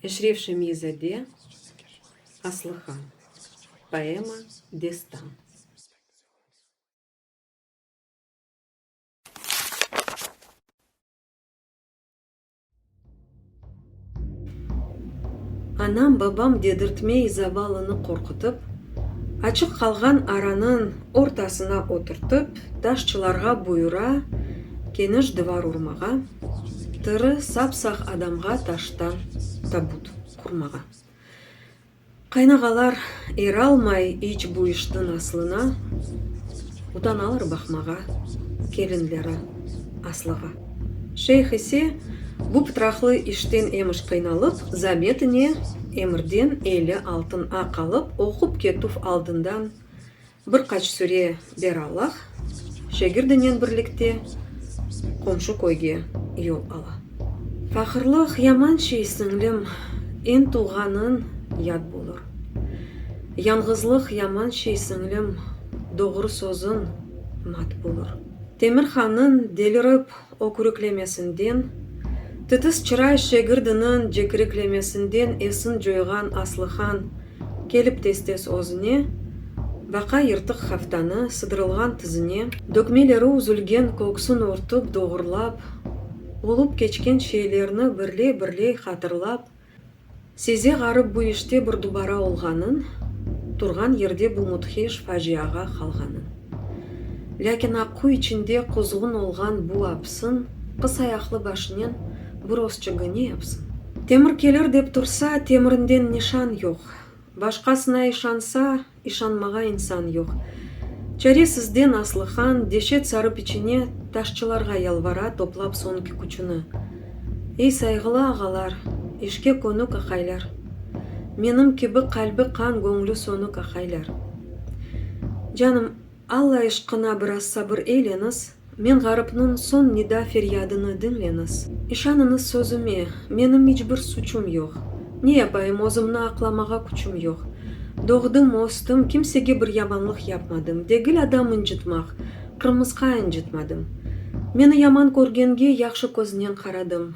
Eşref Şemiyzade, Aslıhan. Poema, destan. Anam, babam dedirtmey zavallını qorqutıp, açıq qalğan aranıñ ortasına oturtıp, daşçılarğa buyura, keniş divar urmağa, tiri, sap-sağ adamğa taştan tabut qurmağa. Qaynağalar eralmay iç bu işniñ aslına, utanalar baqmağa kelinleri aslığa. Şeyh ise bu pıtraqlı işten emiş qıynalıp, zametine emirden eli altın aq alıp, oqup ketüv aldından, Bir qaç süre beralah şagirdinen birlikte qomşu köyge yol ala. Faqırlıq yaman şey, siñlim, eñ tuvğanıñ yad bulur. Yañğızlıq yaman şey, siñlim, doğru sözüñ mat bulur. Temir hanıñ delirip ökürüklemesinden, titis çıray şegirdiniñ cekiriklemesinden esin coyğan Aslıhan kelip tez-tez özüne, baqa yırtıq haftanı, sıdırılğan tizine, dökmeleri üzülgen köksün örtüp, doğrulap, olup keçken şeylerni birley-birley hatırlap, Size ğarıp bu işte bir dubara olğanın, turğan yerde bu müdhiş faciağa qalğanın. Lâkin Aqquy içinde quzğun olğan bu apsın qıs ayaqlı başınen bu rozçıgı ne yapsın? Temir kelir dep tursa, temirinden nişan yoq. Başqasına işansa, İşanmağa insan yoq. Çaresizden Aslıhan, deşet sarıp içine, taşçılarğa yalvara, toplap soñki küçüni. Ey, sayğılı ağalar, işke könük aqaylar! Menim kibi qalbi qan, göñlü sönük aqaylar! Canım, Alla ışqına biraz sabır eyleniz! Men ğarıpnıñ soñ nida-feryadını diñleñiz. İşanıñız sözüme, menim iç bir suçum yoq. Ne yapayım, özümni aqlamağa küçüm yoq. Doğdım, östüm, kimsege bir yamanlıq yapmadım, degil adam incitmaq, qırmısqa incitmadım. Meni yaman körgenge, yahşı köznen qaradım.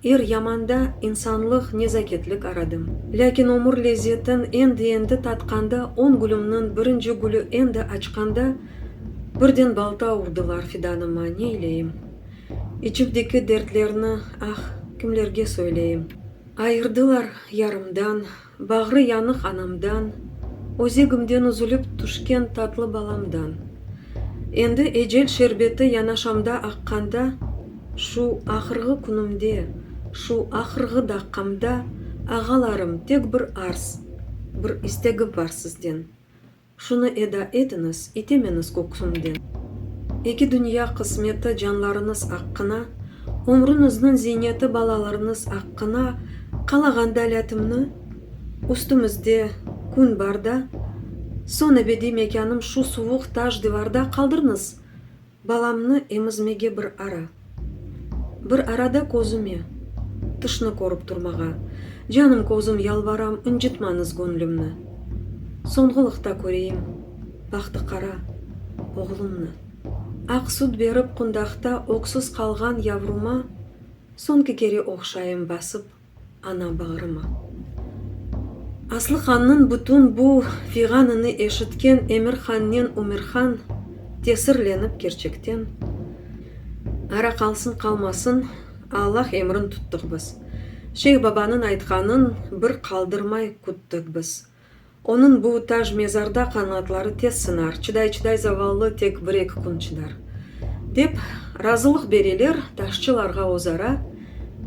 Er yamanda insanlıq, nezaketlik aradım. Lâkin ömür lezzetin endi-endi tatqanda, on gülümniñ birinci gülü endi açqanda, birden balta urdılar fidanıma, neyleyim? İçimdeki dertlerni, ah, kimlerge söyleyim? Ayırdılar yarımdan. Bağrı yanıq anamdan, özegimden üzülip tüşken tatlı balamdan. Endi ecel şerbeti yanaşamda aqqanda, şu ahırğı künümde, şu ahırğı daqqamda, ağalarım, tek bir arz, bir istegim bar sizden, Şunı eda etiñiz, itemeñiz köksümden. Eki dünya qısmeti canlarıñız aqqına, Ömrüñizniñ ziyneti balalarıñız aqqına Qalağan dälâtimni, üstümizde kün barda, Soñ ebediy mekânım şu suvuq taş divarda Qaldırıñız! Balamnı emizmege bir ara. Bir arada közüme. Tışnı körip turmağa. Canım közüm yalvaram ıncıtmañız göñlümni. Soñğılıqta köreyim bahtı qara oğlumnı. Aq süt berip qundaqta öksüz qalğan yavruma soñki kere oqşayım basıp. Ana bağrıma. Aslıhannıñ bütün bu fiyğanını eşitken Emirhannen Ümirhan tesirlenip kerçekten, Ara qalsın qalmasın, Allah emrin tuttıq biz. Şeyh babanıñ aytqanıñ bir qaldırmay küttik biz. Onıñ bu taj mezarda qanatları tez sınar, çıday-çıday zavallı tek bir-eki kün çıdar, dep razılıq bereler taşçılarğa özara,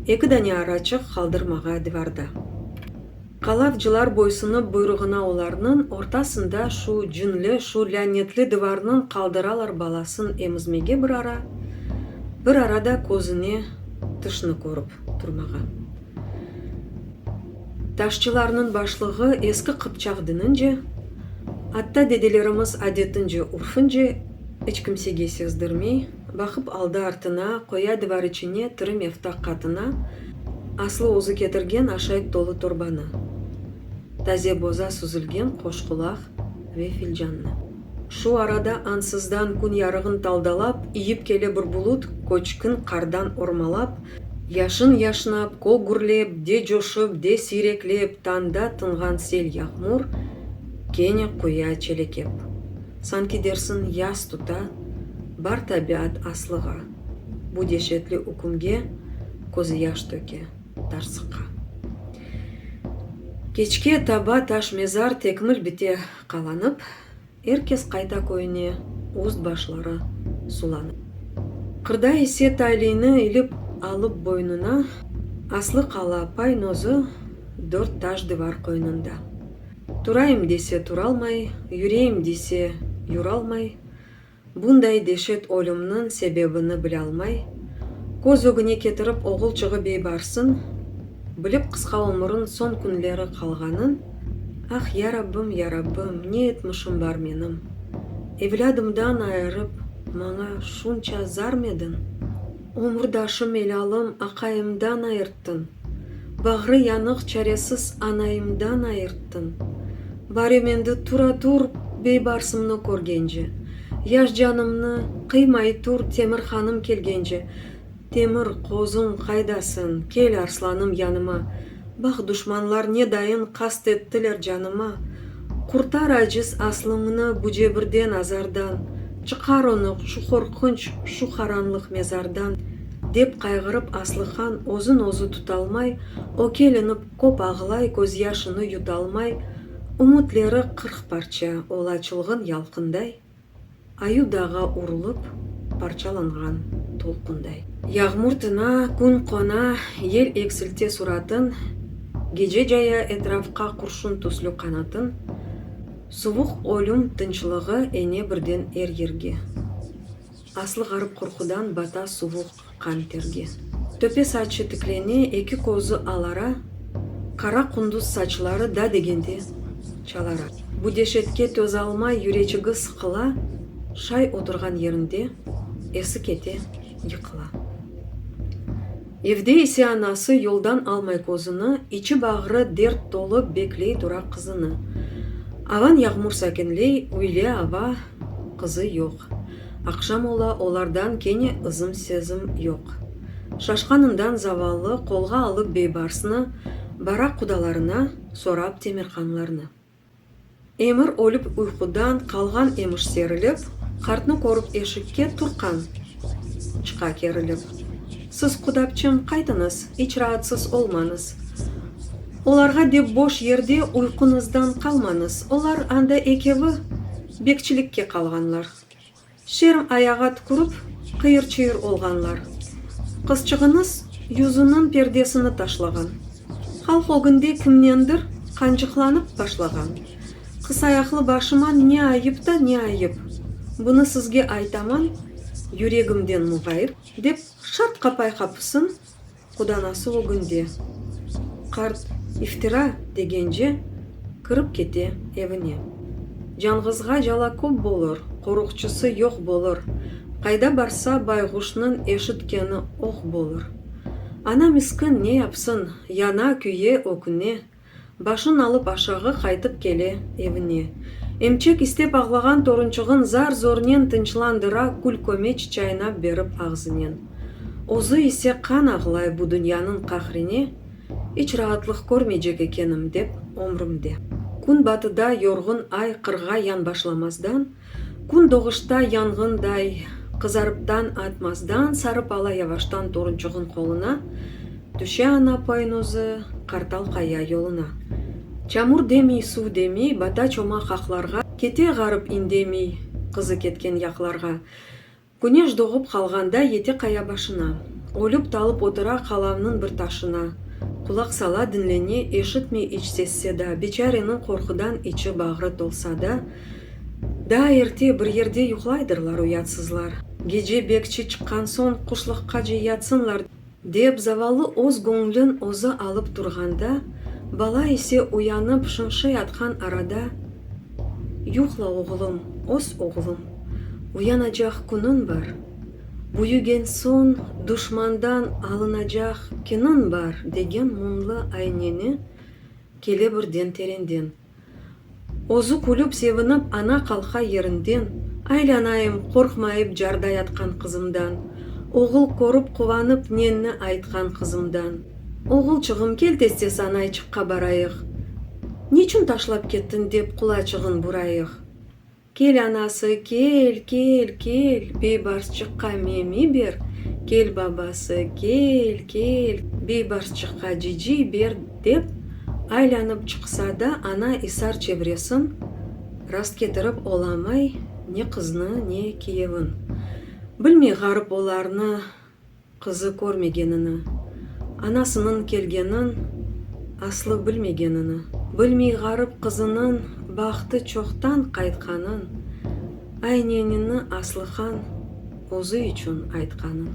eki dane araçıq qaldırmağa divarda. Qalavcılar boysınıp buyruğına olarnıñ ortasında şu cinli, şu lânetli divarnıñ qaldıralar balasın emizmege bir ara, bir ara da közüne tışnı körüp turmağa. Taşçılarnıñ başlığı eski qıpçaq dinince, atta dedelerimiz adetince, urfince, iç kimsege sezdirmey, baqıp aldı-artına, qoya divar içine tiri meftaq qatına, aslı özü ketirgen aşayt tolu torbanı, taze boza suzilgen qoşqulaq ve filcannı. Şu arada ansızdan kün yarığın taldalap, iyip kele bir bulut, köçkün qardan ormalap, yaşın yaşnap, kol gürlep, de coşıp, de siyreklep, tanda tınğan sel yağmur kene quya çelekep. Sanki dersiñ, yaz tuta, bar tabiat aslığa, bu deşetli ükümge közüyaş töke, tarsıqa. Keçke taba taş mezar tekmil bite. Qalanıp, er kes qayta köyüne, üst-başları sulanıp. Qırda ise tayliyni ilip alıp boynuna, aslı qala paynozı dört taş divar qoynunda. Turayım dese turalmay, yüreyim dese yuralmay. Bunday deşet ölümniñ sebebini bilâlmay, köz ögüne ketirip oğul çığıp ey barsın, bilip qısqa ömürün soñ künleri qalğanın, Ah, ya Rabbim, ya Rabbim, ne etmişim bar menim? Evlâdımdan ayırıp, maña şunça zarmediñ? Ömürdaşım elalım aqayımdan ayırttın, Bağrı yanıq çaresiz anayımdan ayırttın. Barem endi tura tur beybarsımnı körgence, Yaş canımnı qıymay tur Temir hanım kelgence. Temir, qozum, qaydasen, kel arslanım yanıma. Bax, duşmanlar ne dayın qast ettiler canıma. Qurtar aciz aslıñnı bu cebirden, azardan, Çıqar onı şu qorqunç, şu qaranlıq mezardan, dep qayğırıp Aslıhan özün özü tutalmay, ökelinip köp ağlay közyaşını yutalmay, Ümütleri qırq parça ola çılğın yalqınday. Ayu dağğa urulup, parçalanğan tolqunday. Yağmur tina, kün qona, yel eksilte suratın, gece caya etrafqa qurşun tüslü qanatın, suvuq ölüm tınçlığı ene birden er yerge. Aslı ğarıp qorqudan bata suvuq qan terge. Töpe saçı tiklene, eki kozı alara, Qara qunduz saçları da degende çalara. Bu deşetke tözalmay yüreçigi sıqıla, Şay oturğan yerinde esi kete, yıqıla. Evde ise anası yoldan almay kozını, İçi-bağrı dert tolu bekley tura qızını. Avan yağmur sakinley, üyle ava, Qızı yoq. Aqşam ola, olardan kene ızım-sezim yoq. Şaşqanından zavallı qolğa alıp beybarsnı, baraq qudalarına, sorap temirqanlarnı. Emir ölüp uyqudan qalğan emiş serilip, qartnı körip eşikke turqqan. Çıqa kerilip. Siz, qudapçım, qaytıñız, iç raatsız olmañız. Olarğa dep boş yerde uyquñızdan qalmañız, olar anda ekevi. Bekçilikke qalğanlar. Şerm ayağa tükürip, qıyır-çıyır olğanlar. Qızçığınız yüzüniñ perdesini taşlağan. Halq ögünde kimnendir qancıqlanıp başlağan. Qısayaqlı başıma ne ayıp ta ne ayıp, bunı sizge aytaman, yüregimden muğayıp, dep şart qapay qapısın Quda nasıl o günde? Qart iftira degence kirip kete evine. Canğızğa cala köp bolır, qoruqçısı yoq bolır, qayda barsa bayğuşnıñ eşitkeni oq bolır. Ana miskin ne yapsın, yana, küye, öküne. Başın alıp aşağı qaytıp kele evine. Emçek istep ağlağan torunçığın zar-zornen tınçlandıra kül-kömeç çaynap berip ağzınen. Özü ise qan ağlay bu dünyanıñ qahrine, iç raatlıq körmeycek ekenim dep ömrümde. Kün batıda yorğun ay qırğa yan başlamazdan, Kün doğuşta yanğınday qızarıptan atmazdan sarıp ala yavaştan torunçuğın qoluna, tüşe ana poynuzı Qartal qaya yoluna. Çamur demiy, suv demiy, bata-çoma qaqlarğa, kete ğarıp indemiy qızı ketken yaqlarğa. Küneş doğıp qalğanda yete qaya başına, Ölüp-talıp otura qalamnıñ bir taşına. Qulaq sala, diñlene, eşitmey iç ses-seda, Biçareniñ qorqudan içi, bağrı tolsa da. Daa erte, bir yerde yuqlaydırlar uyatsızlar, Gece bekçi çıqqan soñ, quşlıqqa ce yatsınlar. Dep, zavallı öz göñlün özü alıp turğanda, bala ise uyanıp şınşıy atqan arada, Yuqla, oğlum, öz oğlum, uyanacaq künün bar, büyügen soñ duşmandan alınacaq kinün bar, degen mumlı ayneni kele birden terenden. Özü külüp sevinip ana qalqa yerinden, Aylanayım, qorqmayıp carda yatqan qızımdan, Oğul körüp quvanıp nenni aytqan qızımdan. Oğulçığım, kel tezde sanayçıqqa barayıq, Niçün taşlap kettin dep qulaçığın burayıq. Kel anası, kel, kel, kel, beybarsçıqqa memi ber, kel babası, kel, kel, beybarsçıqqa ciciy ber, dep, aylanıp çıqsa da, ana isar çevresin rastketirip olamay ne qıznı, ne kiyevin. Bilmey ğarıp olarnı. Qızı körmegenini, anasınıñ kelgenin aslı bilmegenini, bilmey ğarip qızınıñ bahtı çoqtan qaytqanın, aynenini Aslıhan özü içün aytqanın.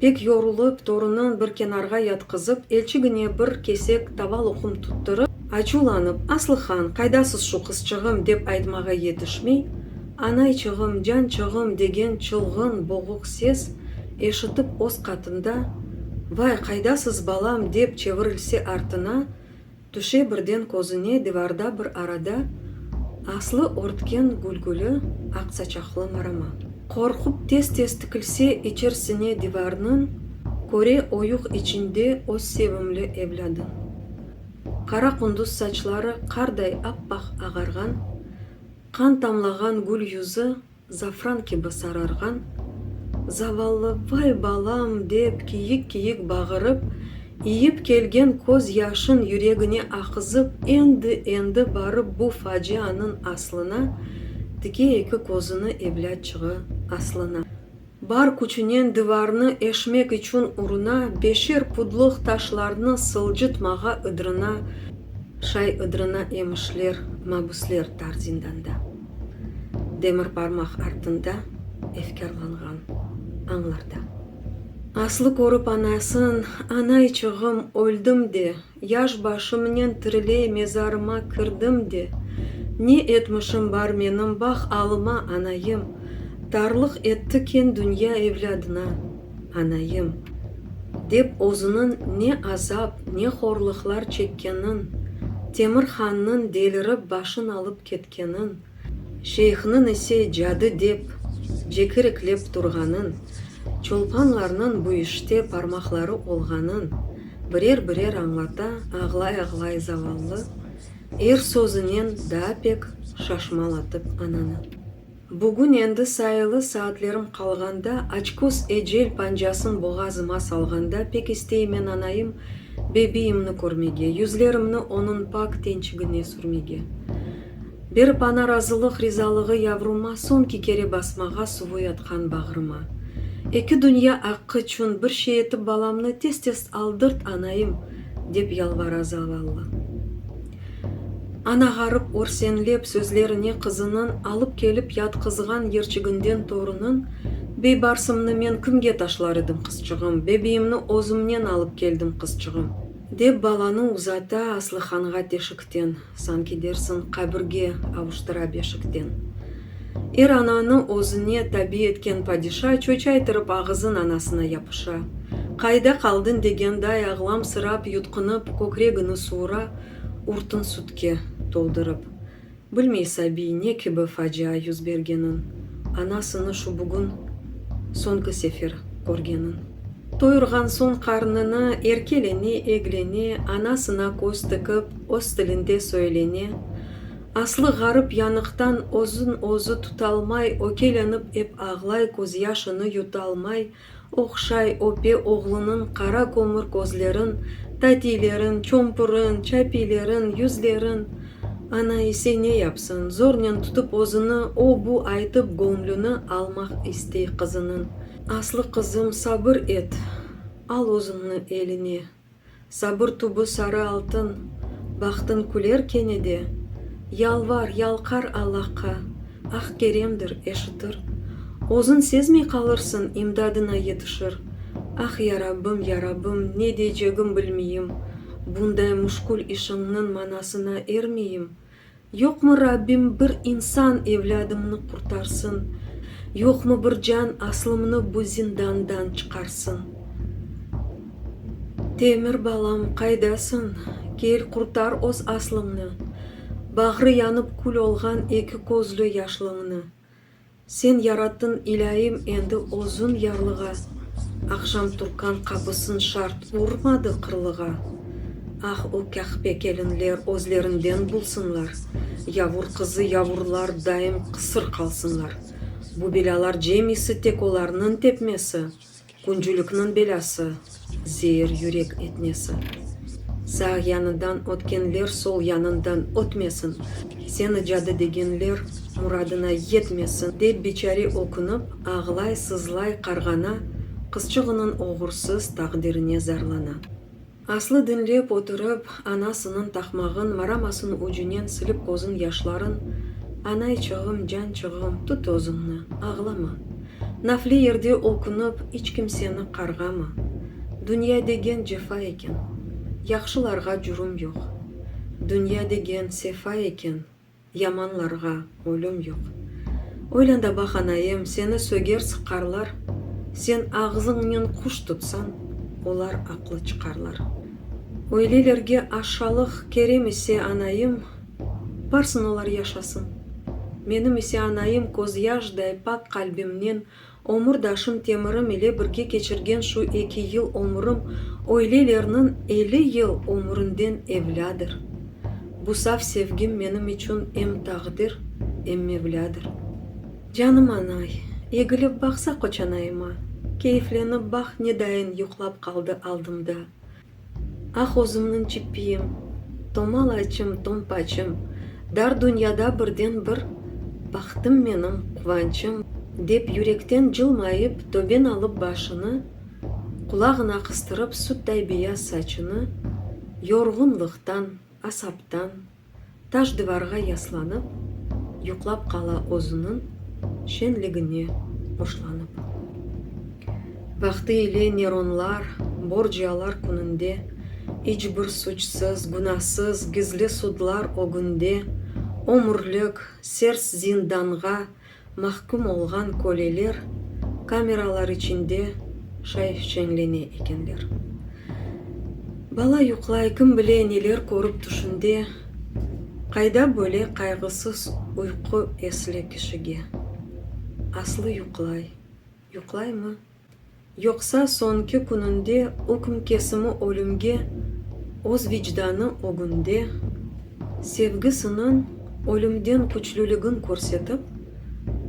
Pek yorulıp, torunın bir kenarğa yatqızıp, elçigine bir kesek tava loqum tutturıp, açuvlanıp, Aslıhan, qaydasız şu qızçığım, dep aytmağa yetişmey, Anayçığım, cançığım! degen çılğın, boğuq ses eşitip öz qatında, Vay, qaydasız, balam! dep çevirilse artına, tüşe birden közüne divarda bir arada aslı örtken gülgüli, aq saçaqlı marama. Qorqup tez-tez tikilse içersine divarnıñ, köre oyuq içinde öz sevimli evlâdın. Qara qunduz saçları qarday ap-aq ağarğan, Qan tamlağan gül yüzü zafran kibi sararğan zavallı vay balam dep kiyik-kiyik bağırıp, iyip kelgen köz yaşın yüregine aqızıp endi-endi barıp bu facianıñ aslına tike eki közüni evlâtçığı aslına. Bar küçünen divarnı eşmek içün uruna beşer pudlıq taşlarnı sıljıtmağa ıdrına, şay ıdrına emişler mabüsler tar zindanda, demir barmaq artında efkârlanğan añlarda. Aslı körüp anasın, Anayçığım, öldim de, Yaş başımnen tiriley mezarıma kirdim de, Ne etmişim bar menim bah alıma, anayım, Tarlıq etti ken dünya evlâdına, anayım, Dep özüniñ ne azap, ne horlıqlar çekkenin, Temir hannıñ delirip başın alıp ketkenin, Şeyhniñ ise cadı dep cekiriklep turğanın, çolpanlarnıñ bu işte parmaqları olğanın birer-birer añlata ağlay-ağlay zavallı, er sözünen daa pek şaşmalatıp ananı. Bugün endi sayılı saatlerim qalğanda, açköz ecel pancasın boğazıma salğanda pek isteymen anayım bebiyimni körmege, yüzlerimni onıñ pak tençigine sürmege. Bir pana razılıq rizalığı yavruma soñki kere basmağa suvuy atqan bağrıma. Eki dünya aqqı çün bir şey etip balamnı tez-tez aldırt anaim, dep yalvara zavallı ana ğarıp örsenlep sözlerine qızınıñ alıp kelip yatqızğan yerçiginden torunıñ Beybarsımnı men kimge taşlar edim qızçığım, bebiyimni özümnen alıp keldim qızçığım, dep balanı uzata Aslıhanğa teşikten. Sanki dersiñ, qabirge avuştıra beşikten. Er ananı özüne tabi etken padişa çoçaytırıp ağızın anasına yapışa. Qayda qaldın degenday ağlamsırap yutqunıp kökregini suura, urtun sütke toldurıp. Bilmey sabiy ne kibi facia yüz bergenin, anasını şu bugün soñki sefer körgenin. Toyurğan soñ qarnını erkelene-eglene anasına köz tikip öz tilinde söylene, aslı ğarip yanıqtan özün özü tutalmay ökelenip ep ağlay közyaşını yutalmay oqşay öpe oğlunıñ qara kömür közlerin tatiylerin çompurin çapiylerin yüzlerin ana ise ne yapsın zornen tutıp özüni o bu aytıp göñlüni almaq istey qızınıñ Aslı qızım, sabır et, al özüñni eline, Sabır tübü sarı altın, bahtıñ küler kene de, Yalvar, yalqar Allahqa, ah keremdir, eşitir, Özün sezmey qalırsıñ, imdadına yetişir, Ah, ya Rabbim, ya Rabbim, ne deycegim bilmeyim, Bunday müşkül işiñniñ manasına ermeyim, Yoqmı Rabbim bir insan evlâdımnı qurtarsın, Yoqmı bir can aslımnı bu zindandan çıqarsın. Temir balam, qaydasıñ? Kel, qurtar öz aslımnı, Bağrı yanıp kül olğan eki közlü yaşlıñnı. Sen yarattın, ilâyim, endi özün yarlığa, Aqşam turkan qapısın şart urmadı qırlığa. Ah, o Kahpe kelinler özlerinden bulsınlar, Yavur qızı yavurlar daim qısır qalsınlar. Bu belâlar cemisi tek olarnıñ tepmesi. Küncülikniñ belâsı, zeir yürek etmesi. Sağ yanından ötkenler sol yanından ötmesin, seni cadı degenler muradına yetmesin, dep biçare ökünip, ağlay-sızlay qarğana, qızçığınıñ oğursız taqdirine zarlana. Aslı diñlep oturıp, anasınıñ taqmağın maramasınıñ ucunen silip közüñ yaşların, Anayçığım, cançığım, tut özüñni, ağlama. Nafli yerde ülkünip, iç kimseni qarğama. Dünya degen cefa eken. Yahşılarğa cürüm yoq. Dünya degen sefa eken. Yamanlarğa ölüm yoq. Oylanda baq, anayım, seni söger sıqarlar, sen ağzıñnen quş tutsan, olar aqlı çıqarlar. Öylelerge aşalıq kerem ise, anayım, barsın olar yaşasın. Menim ise anayım közyaşday pak qalbimnen Ömürdaşım Temirim ile birge keçirgen şu eki yıl ömürim öylelerniñ elli yıl ömürinden evlâdır. Bu saf sevgim menim içün em taqdir, em Mevlâdır. Canım anay, egilip baqsa qoçanayıma, keyiflenip baq nedayin yuqlap qaldı aldımda. Ah, özümniñ çippiyim, tomalaçım, tompaçım, Dar dünyada birden bir baxtım menim, quvançım! Dep yürekten cılmayıp, töben alıp başını, Qulağına qıstırıp sütday beyaz saçını, Yorğunlıqtan, asaptan. Taş divarğa yaslanıp, yuqlap qala özüniñ şenligine hoşlanıp. Vaqtı ile Neronlar, Borcialar kününde, iç bir suçsız, günasız, gizli sudlar ögünde, ömürlik, sers zindanğa Mahküm olğan köleler kameralar içinde şaifçeñlene ekenler. Bala yuqlay, kim bile, neler körip tüşünde, qayda böyle qayğısız uyqu esli kişige? Aslı yuqlay, yuqlaymı? Yoqsa soñki kününde ükm kesimi ölümge öz vicdanı ögünde sevgisiniñ ölümden küçlüligin körsetip,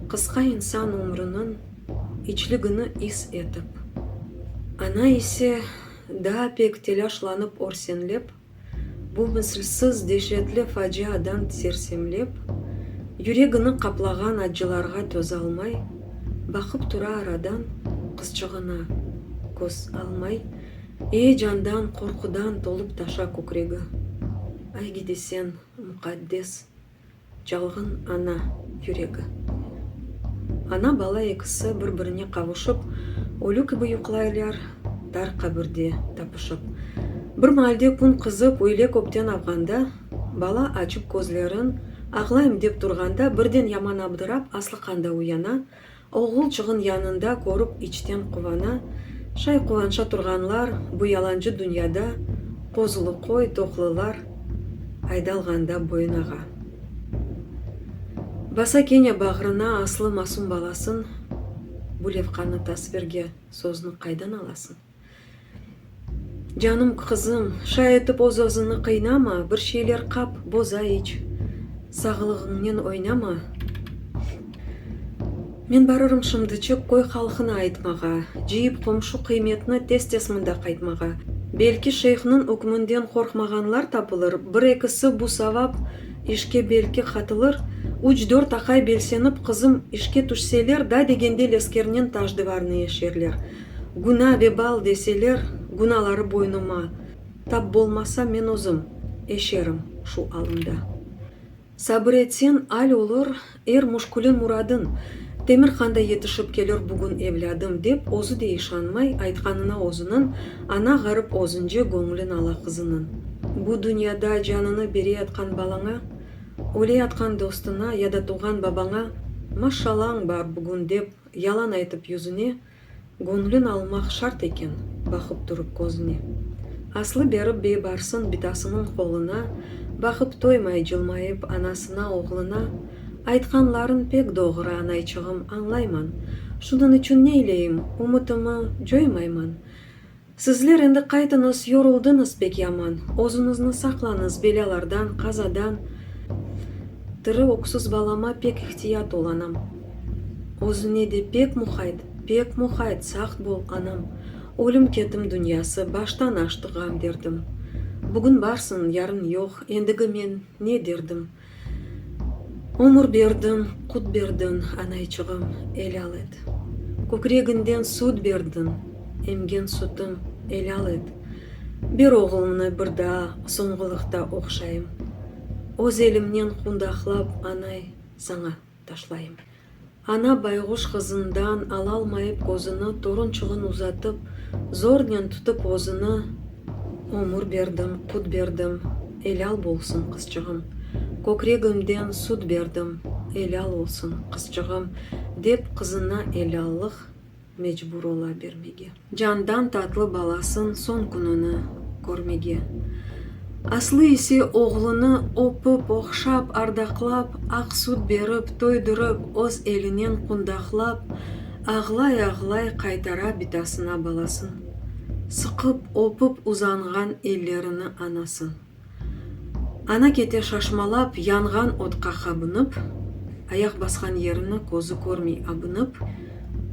qısqa insan ömrüniñ içligini is etip. Ana ise daa pek telâşlanıp örsenlep. Bu mislsiz deşetli faciadan sersemlep, yüregini qaplağan accılarğa tözalmay, baqıp tura aradan qızçığına, köz almay, eyecandan, qorqudan tolup-taşa kükregi. Ay gidesen, muqaddes. Çalğın ana yüregi. Ana, bala ekisi bir-birine qavuşıp, ölü kibi yuqlaylar, tar qabirde tapışıp. Bir maalde kün qızıp, öyle köpten avğanda, bala açıp közlerin, ağlayım dep turğanda, birden yaman abdırap, aslıqanda uyana, Oğulçığın yanında körip içten quvana, Şay quvanşa turğanlar bu yalancı dünyada, Qozulu qoy, toqlılar aydalğanda boyunağa. Basa kene bağrına aslı masum balasın, Bu levqanı tasvirge, söznü qaydan alasın? Canım qızım, şay etip öz-özüni qıynama, bir şeyler qap, boza iç, sağılığıñnen oynama. Men barırım şimdiçik köy halqına aytmağa, cıyıp qomşu qıymetni tez-tez mında qaytmağa. Belki şeyhniñ ükmünden qorqmağanlar tapılır, bir-ekisi bu savap işke belki qatılır, üç-dört aqay belsenip qızım işke tüşseler, da degende leskernen taş-divarnı eşerler. Günâ vebal deseler, günaları boynuma, tap bolmasa, men özüm eşerim şu alımda. Sabır etsen, al olur, er müşküle muradın, Temirqanda yetişip kelir bugün evlâdım, dep özü de işanmay aytqanına özüniñ, ana ğarip özünce göñlün ala qızınıñ. Bu dünyada canını bereyatqan balaña, öleyatqan dostuna ya da tuvğan babaña, Maşşalañ bar bugün, dep yalan aytıp yüzüne, Göñlün almaq şart eken, baqıp turıp közüne. Aslı berip biybarsın bitasınıñ qoluna, Baqıp toymay cılmayıp anasına, oğluna, Aytqanlarıñ pek doğru, anayçığım, añlayman, Şunıñ içün neyleyim, ümütimi coymayman, Sizler endi qaytıñız, yoruldıñız pek yaman, özüñizni saqlañız belâlardan, qazadan. Tiri öksüz balama pek ihtiyat ol, anam. Özüñe de pek muhayt, pek muhayt, sağt bol, anam. Ölüm ketim dünyası, baştan aştı ğam derdim. Bugün barsıñ, yarın yoq, endigi men ne derdim? Ömür berdiñ, qut berdiñ, anayçığım, elâl et. Kökregiñden süt berdiñ, emgen sütüm, elâl et. Ber oğlumnı bir daa soñğulıqta oqşayım. Öz elimnen qundaqlap, anay, saña. Taşlayım. Ana bayğuş ğızından alalmayıp közüni torunçığın uzatıp, zornen tutıp özüni, Ömür berdim, qut berdim, elâl bolsun, qızçığım! Kökregimden sut berdim, elâl olsun, qızçığım! dep qızına elâllıq, Mecbur ola bermege. Candan tatlı balasın soñ kününi körmege. Aslı ise oğlunı öpip, oqşap, ardaqlap, aq süt berip, toydurıp, öz elinen qundaqlap, ağlay-ağlay qaytara bitasına balasın, sıqıp, öpip uzanğan ellerini anasın. Ana kete şaşmalap, yanğan otqa qabınıp, ayaq basqan yerini közü körmey abınıp,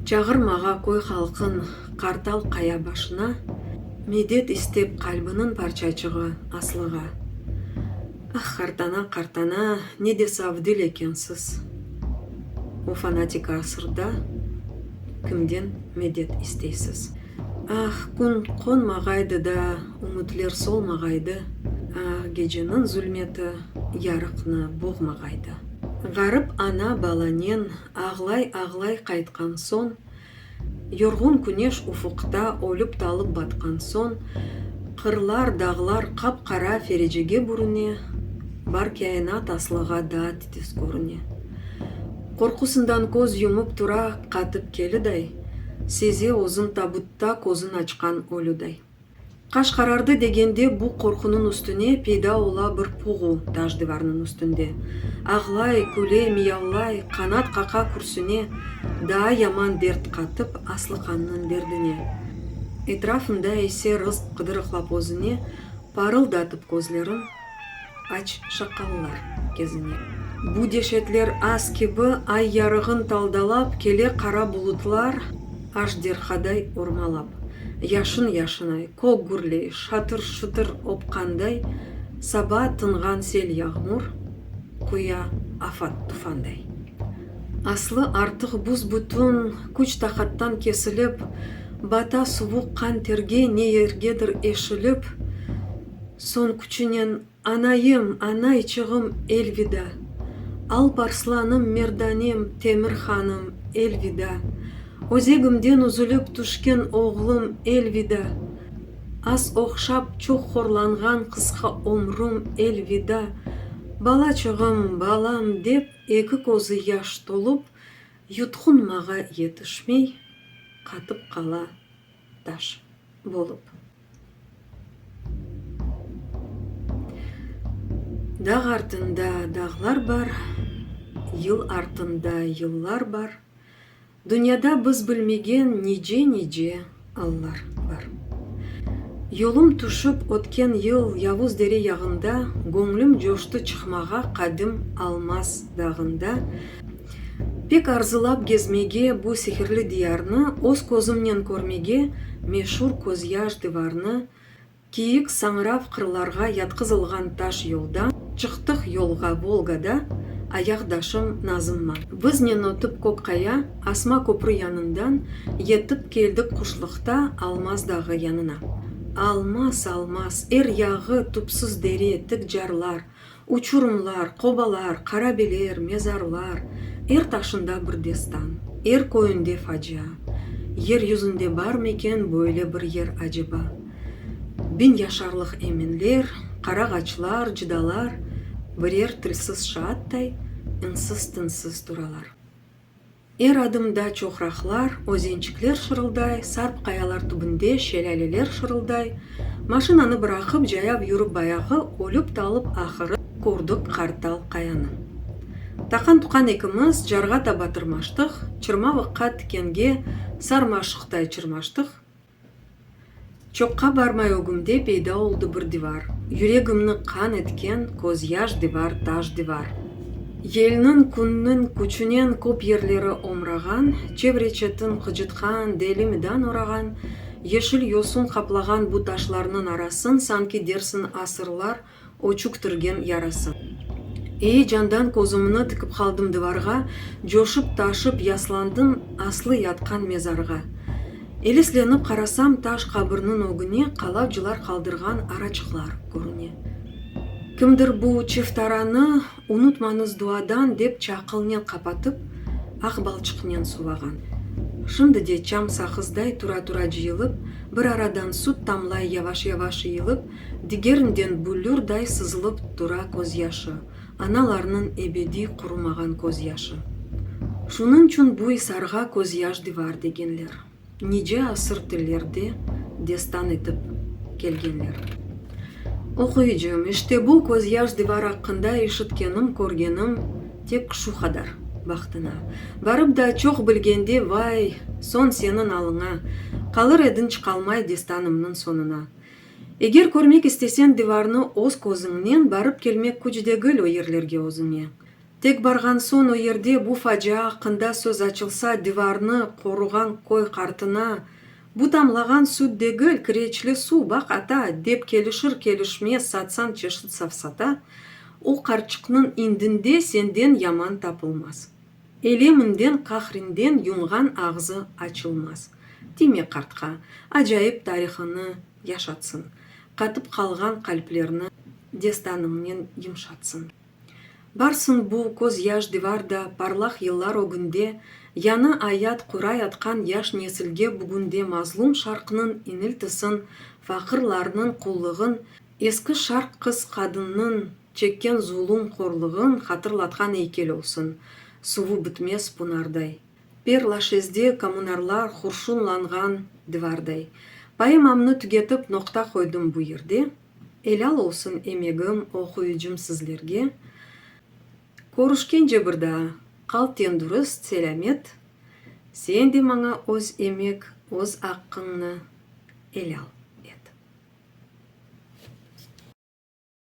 çağırmağa köy halqın qartal qaya başına, medet istep qalbiniñ parçacığı Aslığa. Ah, qartana, qartana, ne de saf dil ekensiz! O fanatiki asırda kimden medet isteysiz? Ah, kün qonmağaydı da, ümütler solmağaydı, Ah, geceniñ zulmeti yarıqnı boğmağaydı. Ğarip ana balanen ağlay-ağlay qaytqan soñ, Yorğun küneş ufuqta ölip-talıp batqan soñ, Qırlar, dağlar qap-qara ferecege bürüne, Bar kâinat aslığa daat Tez körüne. Qorqusından köz yumıp tura, qatıp keliday, seze özün tabutta közün açqan ölüday. Qaş qarardı degende bu qorqunıñ üstüne peyda ola bir puğu taş divarnıñ üstünde. Ağlay, küle, miyavlay, qanat qaqa kürsüne, daa yaman dert qatıp aslı qannıñ derdine. Etrafında ise rızq qıdırıqlap özüne, parıldatıp közlerin. Aç şaqallar gezine. Bu deşetler az kibi, ay yarığın taldalap, kele qara bulutlar ajderhaday ormalap, yaşın-yaşınay, kök gürley, şatır-şutır opqanday, saba tınğan sel-yağmur quya afat-tufanday. Aslı artıq buz-bütün küç-taqattan kesilip, bata suvuq qan-terge ne yergedir eşilip, Soñ küçünen, Anayım, anayçığım, elvida! Alp arslanım, merdanem, Temir hanım, elvida! Özegimden üzülip tüşken oğlum, elvida! Az oqşap, çoq horlanğan qısqa ömrüm, elvida! Balaçığım, balam, dep eki közü yaş tolup, yutqunmağa yetişmey, qatıp qala. taş bolıp. Dağ artında dağlar bar, yıl artında yıllar bar, dünyada biz bilmegen nice-nice allar bar. Yolum tüşip ötken yıl Yavuz dere yağında, göñlüm coştı çıqmağa Qadim Almaz dağında. Pek arzılap gezmege, bu sihirli diyarnı öz közümnen körmege, meşur közyaş divarnı, kiyik, sañrav qırlarğa yatqızılğan taş yoldan, çıqtıq yolğa Volgada, ayaqdaşım Nazımma. Biznen ötip Kökqaya, asma köprü yanından, yetip keldik quşluqta Almaz dağı yanına. Almaz, Almaz, er yağı, tüpsüz dere, tik carlar, Uçurımlar, qobalar, qarabeler, mezarlar, er taşında bir destan, er köyünde facia. Yer yüzünde barmıken böyle bir yer aceba? Bin yaşarlıq eminler, qarağaçlar, cıdalar birer tilsiz şaattay insiz-tinsiz turalar. Er adımda çoqraqlar, özençikler şırılday, sarp qayalar tübünde şelâleler şırılday. Maşinanı bıraqıp, cayav yürip bayağı ölip-talıp ahırı kördik qartal qayanı. Taqan-tuqan ekimiz carğa taba tırmaştıq, çırmavıqqa tikenge sarmaşıqtay çırmaştıq. Çoqqa barmay ögümde peyda oldı bir divar, Yüregimni qan etken közyaş divar, taş divar. Yelniñ, künniñ küçünen köp yerleri omrağan, Çevre-çetin qıcıtqan, deli midan orağan, Yeşil yosun qaplağan bu taşlarnıñ arasın Sanki dersiñ asırlar O çüktürgen yarası. Eyecandan közümni tikip qaldım divarğa, coşıp-taşıp yaslandım aslı yatqan mezarğa. Eleslenip qarasam, taş qabirniñ ögüne qalavcılar qaldırğan araçıqlar körüne. Kimdir bu çiftaranı unutmañız duadan dep çaqılnen qapatıp, aq balçıqnen sulağan. Şimdi de çam saqızday tura-tura cıyılıp, bir aradan sut tamlay yavaş-yavaş iyılıp, Digerinden büllürday sızılıp tura közyaşı, analarnıñ ebediy qurumağan közyaşı. Şunıñçün bu isarğa közyaş divar degenler. Nice asır tillerde destan etip kelgenler. Oquyıcım, işte bu közyaş divar aqqında işitkenim, körgenim tek şu qadar, bahtıña. Barıp da çoq bilgende, vay, soñ seniñ alıña, qalır ediñ çıqalmay destanımnıñ soñuna. Eger körmek istesen divarnı öz közüñnen, barıp kelmek küç degil o yerlerge özüñe. Tek barğan soñ o yerde bu facia aqqında söz açılsa divarnı qoruğan köy qartına, Bu tamlağan süt degil, kireçli suv, baq ata, dep kelişir kelişmez satsan çeşit safsata, o qartçıqnıñ indinde senden yaman tapılmaz. Eleminden, qahrinden yumğan ağzı açılmaz. Dime qartqa, acayip tarihıñnı yaşatsın, qatıp qalğan qalplerni destanıñnen yımşatsın. Barsın bu közyaş divarda parlaq yıllar ögünde, yañı ayat quray atqan yaş nesilge bugünde mazlum Şarqnıñ iniltisın, faqırlarnıñ qullığın, eski Şarq qız-qadınnıñ, Çekken zulum horluğın hatırlatqan eykel olsun, suvu bitmez punarday, per Laşezde kommunarlar hurşunlanğan divarday. Poemamnı tügetip noqta qoydım bu yerde. Elâl olsun emegim, oquyıcım sizlerge. Körüşkence bir daa. Qal tendürist, selâmet. Sen de maña öz emek, öz aqqıñnı elâl et.